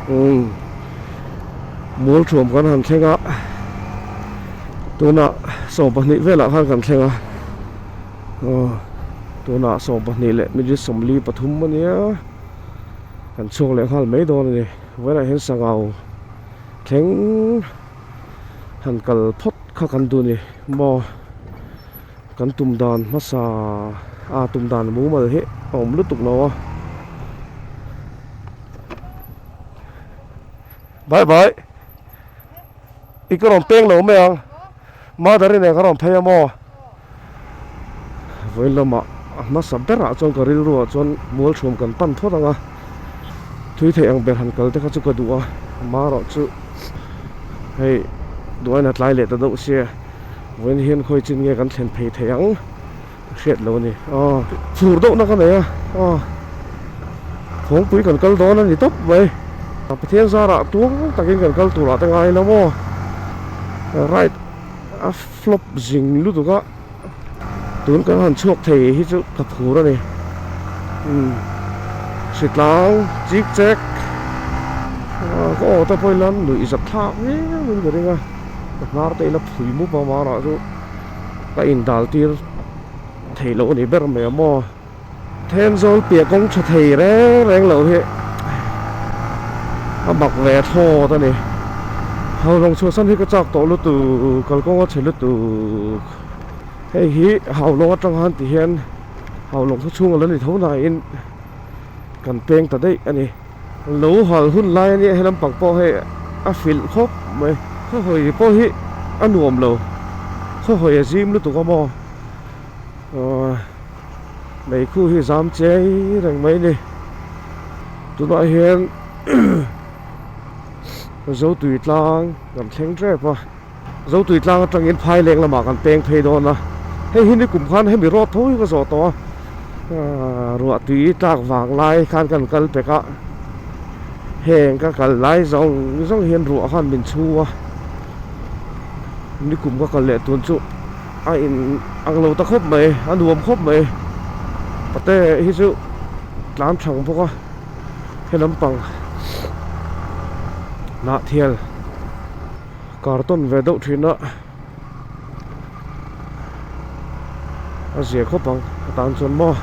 ui mual thuam kan han thleng a tuna sawm pahnih velah khan kan thleng a aw tuna sawm pahnih leh midi sawmli pathum ania kan chhuak leh nghal mai dawn a ni vawilah hian sangau thleng-- han kal phawt kha kan duh ni maw kan tum dan hmasa a tum dan mumal hi a awm lutuk lo a bai bai i ka rawn peng lo mai ang. Mother i nen ka rawn phei a maw? Vawilawmah a hmasa berah chuan ka rilru ah chuan mualthum kan pan phawt ang a, thui theih ang ber han kalte kha chu ka duh a, ma erawh chu hei duh ain a tlai leh ta deuh sia, vawiin hian khawi chin nge kan thlen phei thei ang. Ka hriat lo a ni a. Chhur deuhna ka nei a a. Thawngpui kan kal dawn a ni tawp mai. Pathian zarah tuang takin kan kal turah te ngai la maw. Right a flop zing lutuk a. Tun kan han chhuak thei hi chu ka phur a ni. Umm hrithlang chik chek. Ka aw te pawh i la nuih zat thlak viau in ka ring a. Ka hnar te i la phui mup a mahra chu. ka in dal tir thei loh anih ber mai a maw Thenzawl piah kawng tha thei reng reng loh hi a mak ve thlawt ani Haulawng chhuahsan hi ka chak tawh lutu kalkawnga che lutu hei hi Haulawng atang han tih hian Haulawng khaw chhung ala ni tho nain kan peng ta daih ani. Lo hal hun lai ania he lampang pawh hei a hrilh khawp mai. Khawi pawh hi a nuam lo, khawi a zim lutuk a maw. Meikhu hi zam che reng mai ni. Tunah hian zotui tlang kan thleng tep a. Zotui tlang atangin phai leng lamah kan peng phei dawn a, hei hi nikum khan hemi rawt tho hi ka zawh tawh a, ruah tui tlak vang lai khan kan kal pek a, heng ka kal lai zawng zawng hian ruah khan min chhu a, nikum ka kal leh tun chu a in ang lo ta khawp mai, a nuam khawp mai, pate hi chu tlan thlang bawk a, he lampang hnah thial. carton ve deuh thin a a ziah khawp ang atan chuan maw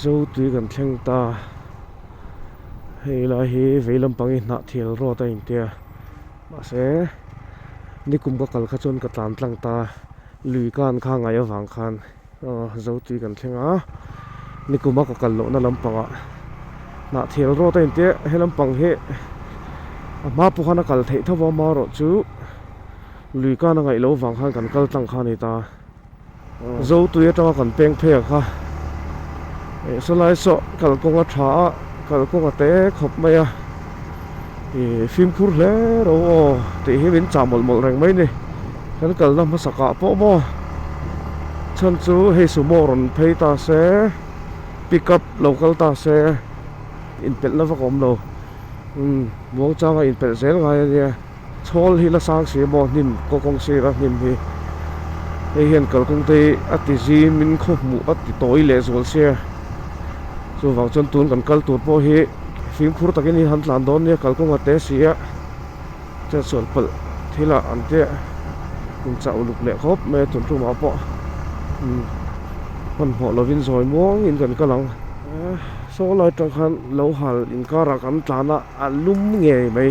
zo tui kan thleng ta hei lai hi vei lampang i hnah thial rawt a intia mahse nikum ka kal kha chuan ka tlan tlang ta lui kan kha ngai avang khan. Ahh zotui kan thleng a nikum a ka kal loh na lampang ah hnah thial rawt a in tia he lampang hi a hma pawh khan a kal theih tho a a hma rawh chu lui kan a ngaih loh vang khan kan kal tlang kha a ni ta zotui atang a kan peng phei ang kha eh saw lai sawh kalkawng a tha a kalkawng a te khawp mai a. Ihh fimkhur hle ro aw tih hi min chah mawlh mawlh reng mai ni kan kalna hmasakah pawh maw chhan chu hei sumo rawn phei ta se pick up lo kal ta se inpelhna vak awm lo imm muangchanga inpelh zel ngai a nia chhawl hi la sang si maw hnim kaw kawng sira hnim hi hei hian kalkawngte hi a tizim in khaw hmuh a ti tawi leh zual sia chuvang chuan tun kan kal tur pawh hi. fimkhur takin hi han tlan dawn nia kal kawngah te si a chhuan palh thilah an ti a in chah uluk leh khawp mai a chung tlumah pawh imm hmanhmawh lovin zawi muangin kan kal ang a sawlai tang khan lo hal inkarah kan tlan a a lum ngei mai.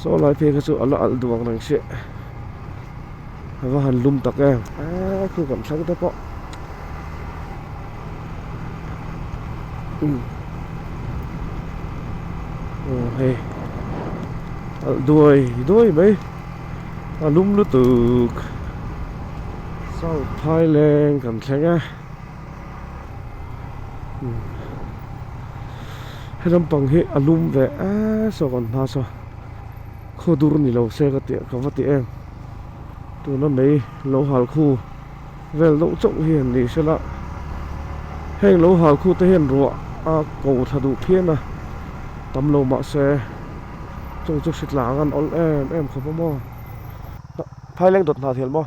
saw lai phei kha chu ala alh duak reng hreh ava han lum tak em eee khu kan thleng te pawh um aw hei alh duai duai mai a lum lutuk south thailand kan thleng a. helai pang hi a lum ve eee saw kan hma saw khaw dur ni lo se ka tia ka va ti em tuna mei lo hal khu vel deuh chauh hi an nih hrel a heng lo hal khu te hian ruah a ko thla duh phian a tam lo mah se chung chu hritlang an awlh em em khawp a maw tah phai leng dawt nghal thiam maw.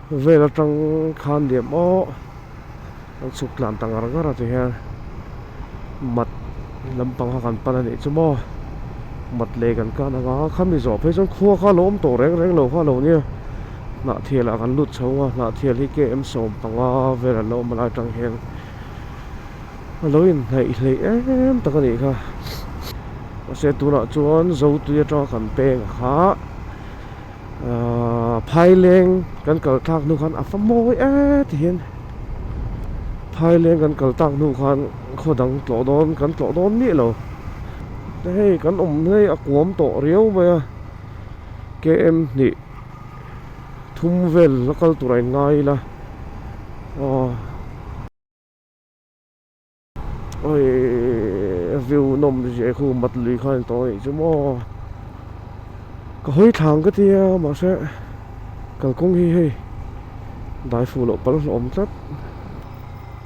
Vel atang khan diam maw kan chhuk tlan ta ngar ngar a ti hian mat lampang kha kan pan a nih chu maw mat leh kan kan anga khami zawh phei chuan khua kha lo awm tawh reng reng lo kha lo nia hnah thialah kan lut chho anga hnah thial hi km sawm panga velah lo awm a lai atang hian a lo inhnaih hleih em tak a nih kha mahse tunah chuan zotui atanga kan peng a kha. Ahh thaileng kan kal thlak hnu khan a fa mawi e ti hian thaileng kan kal thlak hnu khan khaw dang tlawh dawn kan tlawh dawn miah lo te hei kan awm hi a kuam tawh riau mai a km hnih thum vel la kal tur a in ngai ila aw. Awii view nawm zia khu mat lui kha ni tawh anih chu maw ka hawi thlang ka tia mahse kalkawng hi hei dai fuh loh pal hlawm tlat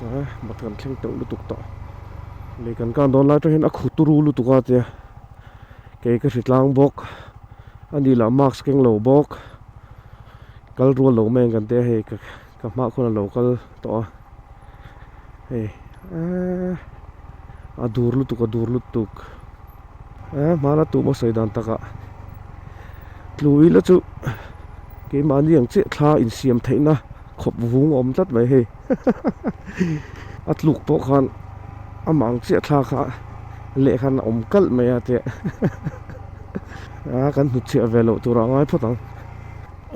a mat kan thleng teuh lutuk tawh lui kan kan dawn lai atang hian a khu turu lutuk a tia kei ka hri tlang bawk ani lah mask keng lo bawk kal rual lo mai ang kan tia hei ka ka hma khawn a lo kal tawh a hei eehh a dur lutuk a dur lutuk eehh hmana tum a sawi dan tak a tlui la chu keimahni ang chiah thla in siam theih na khawp vung a awm tlat mai hei hahaha a tluk pawh khan amah ang chiah thla kha leh khan a awm kalh mai a tia hahaha aaa kan hnutchhiah ve loh tur ah a ngai phawt ang.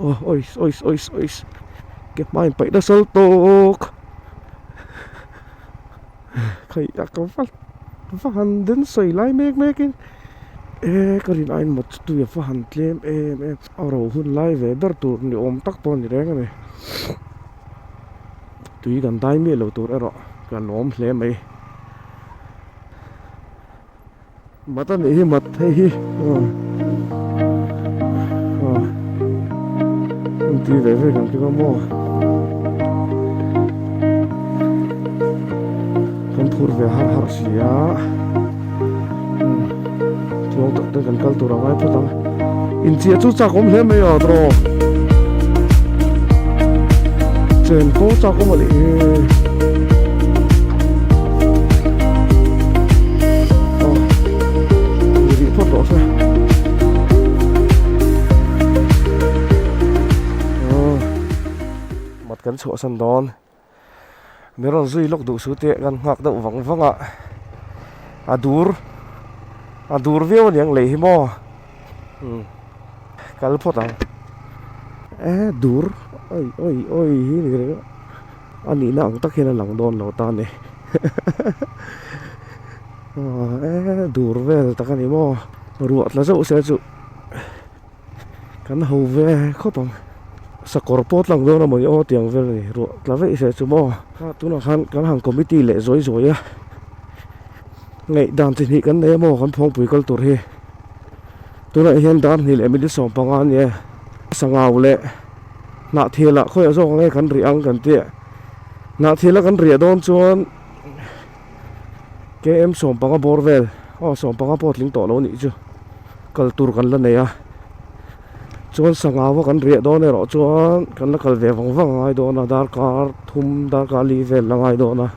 Ois ois ois ois ke hmain paih na sal tawk khaih a ka va va han den sawi lai mek mek in ehh ka rin ain mawt chu tui a va han tlem em em a ro hun lai ve ber tur ni awm tak pawh a ni reng a ni tui kan dai miah lo tur erawh ka lawm hle mai. Mat anih hi mat hei hi aw aw hun ti ve vek ang khi ka maw kan phur ve har har si a chuang tak te kan kal tur ang ai phawt ang. Inchia chu chak awm hle mai a draw. Chen pawh chak awm a nih hi. Oh. Ni rih phawt loh se. Oh. Mat kan chhuah san dawn. mi rawn zui lawk duh su te kan nghak deuh vang vang a a dur a dur viau a niang leh hi maw um kal phawt ang e dur oi oi oi hi ni reng a a nihna ang tak hian a lang dawn lo ta a ni e dur vel tak a ni maw ruah tla zeuh se chu. kan ho ve khawp ang sakawr pawh tlak dawn a mawni aw tiang vel a ni ruah tla veih seh chu maw a tunah khan kan han committee leh zawih zawih a ngaih dan chi hnih kan nei a maw kan phawngpui kal tur hi tunah hian dar hnih leh middle sawm panga a ni e sangau leh hnahthel ah khawiah zawk ang e kan rih ang kan tih a hnahthel a kan riah dawn chuan km sawmpanga bawr vel aw sawmpanga pawh a tling tawh lo anih chu kal tur kan la nei a chuan sangava kan riah dawn erawh chuan kan la kal ve vang vang a ngai dawn a darkar thum darkar li vel la ngai dawn a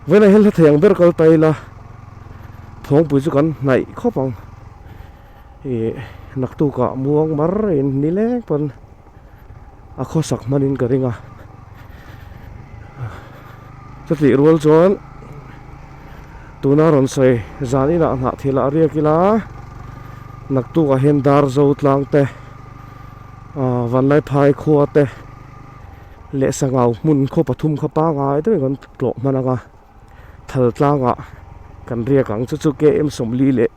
vawlah hian hla thei ang ber kal ta ila thawngpui chu kan hnaih khawp ang ihh naktukah muang mar in ni leng pawn-- a khawsak hmanin ka ring a chutih rual chuan tuna rawn sawi zan inah a hnah thil ah a riak ila a naktuk ah hian dar zo tlang te ah vanlai phai khua te leh sangau hmun khaw pathum kha pangai deuhin kan tlawh hman anga thal tlang ah kan riak ang chu chu km sawmli leh--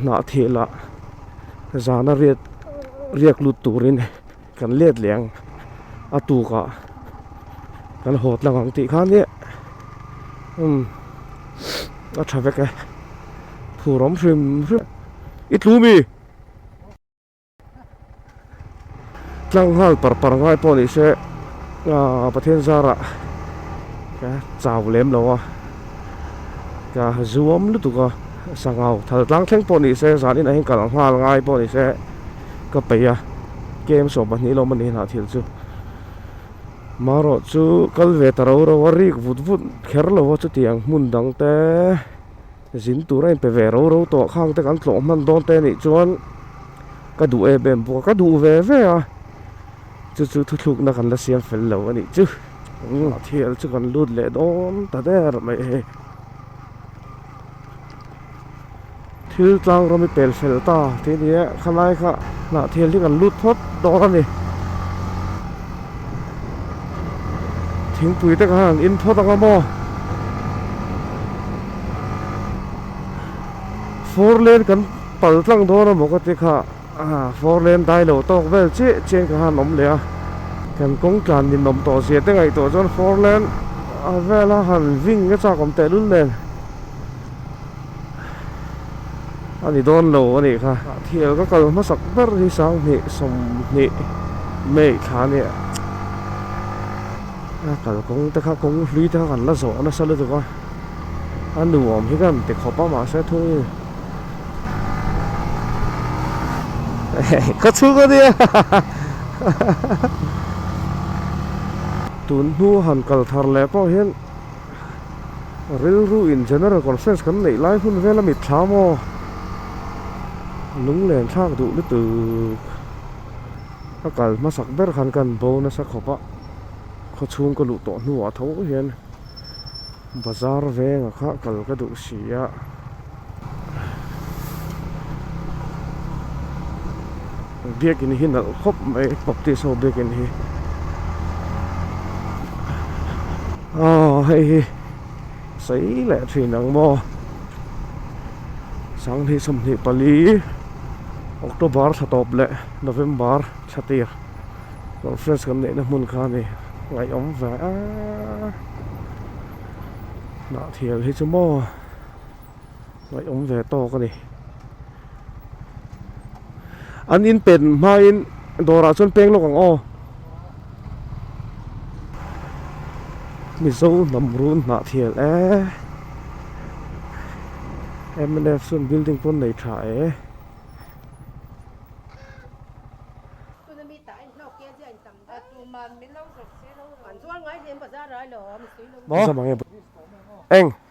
hnah thehla zana riat riak lut turin kan let leh ang a tukah kan haw tlang ang tih khan hian umm a tha vek e phur awm hrim hrim i tlumi. Tlang nghal par par ngai pawh ni se ah Pathian zara ka chau lem lo a ka zuam lutuk a sangau thal tlang thleng pawh ni se zan inah hian ka la nghal ngai pawh ni se ka pei a kem sawh pahnih lawm a ni hlah thil chu marawh chu kal ve ta ro ro a rik vut vut kher lo a chutiang hmun dangte. Zin tur a inpe ve ro ro tawh khang te kan tlawh hman dawn te nih chuan ka duh em em bawk a, ka duh ve ve a, chu chu thuthlukna kan la siam fel lo anih chu, a thial chu kan lut leh dawn ta der mai e. Thil tlang rawm i pel fel ta tih a ni e, khalai kha hnah thial hi kan lut phawt dawn a ni. Thingpui te khan an in phawt ang a maw? Four lane kan pal tlang dawn a maw ka ti kha a four lane dai lo tawk vel che che ka han awm leh a kan kawng tlan min awm tawh zia te ngaih tawh chuan four lane a vela han ving nge chak awm tehlul nen. a ni dawn lo a nih kha thial ka kal hmasak ber hi sanghnih sawmhnih may thla ania a kalkawng te kha kawng hlui te kha kan la zawh nasa lutuk a a nuam hi ka han ti khawp a mahse thung khawchhung a nia tunhnu han kal thar leh pawh hian Rilru in General Conference kan neih lai hun vel a mitthla maw? Lunglen thlak duh lutuk ka kal hmasak ber khan ka han bonus a khawp a, khaw chhung ka luh tawh hnuah tho hian bazar venga kha kal ka duh si a. biakin hi nalh khawp mai baptist ho biakin hi aw hei hi sei leh thin ang maw sanghnih sawmhnih pali october thla tawp leh november thla tir conference kan neihna hmun kha a ni ngaihawm ve a hnah thial hi chu maw. ngaih awm ve tawk a ni an in pen hmain dawrah chuan peng lawk ang aw mizo hnam run hnah thial e mnf chuan building pawn nei tha e eng